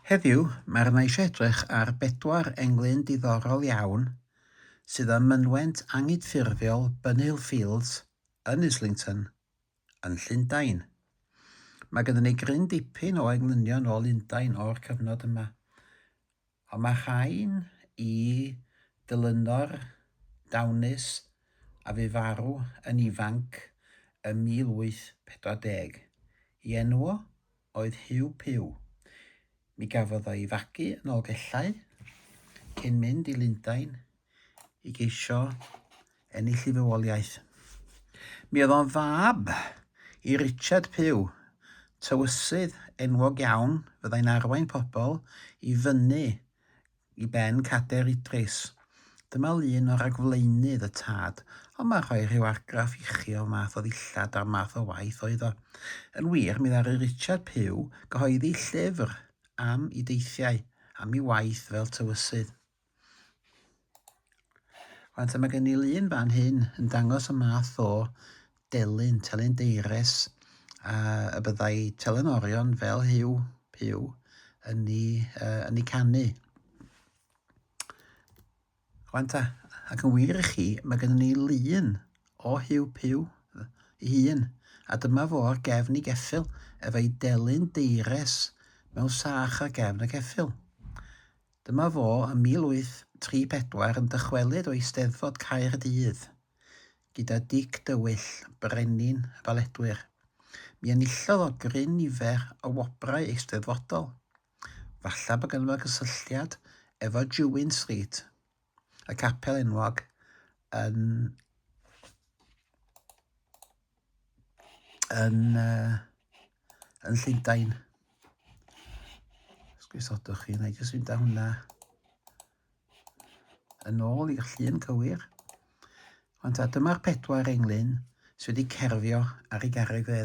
Heddiw, mae arna i eisiau edrych ar bedwar englyn diddorol iawn sydd ym mynwent anghydffurfiol Bunhill Fields yn Islington, yn Llundain. Mae ganddo ni gryn dipyn o englynion o Lundain o'r cyfnod yma, A mae rhain i Dylynor Downes a fu farw yn ifanc ym 1840. I enw o oedd Hugh Pugh. Mi gafodd o ei fagu yn Nolgellau cyn mynd i Lundain i geisio ennill ei fywoliaeth. Mi oedd o'n fab i Richard Pugh, tywysydd enwog iawn fyddai'n arwain pobl i fyny i ben Cader Idris. Dyma lun o ragflaenydd y tad, ond mae'n rhoi rhyw argraff i chi o'r math o ddillad a'r math o waith oedd o. Yn wir, mi ddaru Richard Pugh gyhoeddi llyfr am i deithiau, am i waith fel tywysydd. Rwan te mae gen i lun fan hyn yn dangos y math o delyn, telyn deires, a y byddai telyn orion fel hyw, pyw, yn ni, uh, yn ni canu. Rwan ta, ac yn wir i chi, mae gennym ni lun o Hugh Pugh ei hun, a dyma fo ar gefn ei geffil, efo'i delyn deires mewn sach ar gefn y ceffil. Dyma fo ym 1834 yn dychwelyd o Eisteddfod Caerdydd gyda Dic Dywyll, brenin y baledwyr. Mi enillodd o gryn nifer o wobrau eisteddfodol. Falla bod ganddo fo gysylltiad efo Jewin Street. y capel enwog yn, yn, uh, yn Llundain. Sgwysodwch chi, na i jyst fynd â hwnna yn ôl i'r llun cywir. Ond ta, dyma'r pedwar englyn sydd wedi cerfio ar ei garreg fe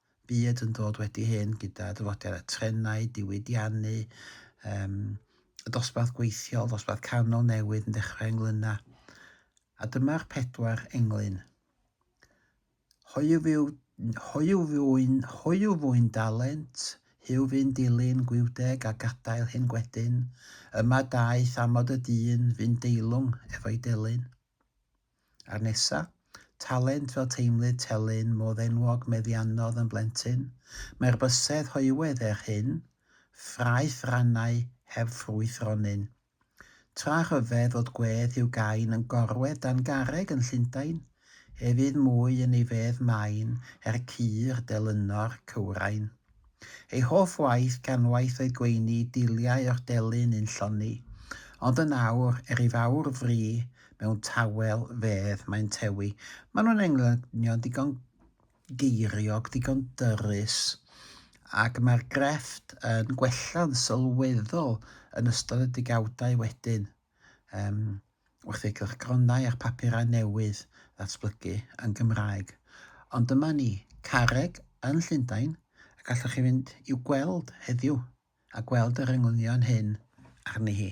byd yn dod wedi hyn gyda dyfodiad y trenau, diwydiannu, um, y dosbarth gweithiol, dosbarth canol newydd yn dechrau englynna. A dyma'r pedwar englyn. Hoiw fyw, hoiw fyw'n, hoiw fyw'n dalent, hiw fy'n dilyn gwiwdeg a gadael hyn gwedyn, yma daeth amod y dyn fy'n deilwng efo'i delyn. A'r nesa? Talent fel teimlid telyn modd enwog meddiannodd yn blentyn. Mae'r bysedd hoywedd er hyn, ffraeth rannau heb ffrwyth ronyn. Tra rhyfedd fod gwedd Hugh Gain yn gorwedd dan garreg yn Llundain, ef fydd mwy yn ei fedd main er cur delynor cywrain. Ei hoff waith gan waith oedd gweini dulliau o'ch delyn yn lloni, ond yn awr, er i fawr fri mewn tawel fedd mae'n tewi. Maen nhw'n englynion digon geiriog, digon dyrys, ac mae'r grefft yn gwella'n sylweddol yn ystod y degawdau wedyn. Yym, wrth i gylchgronau a phapurau newydd ddatblygu yn Gymraeg. Ond dyma ni, Carreg yn Llundain, a gallwch chi fynd i'w gweld heddiw a gweld yr englynion hyn arni hi.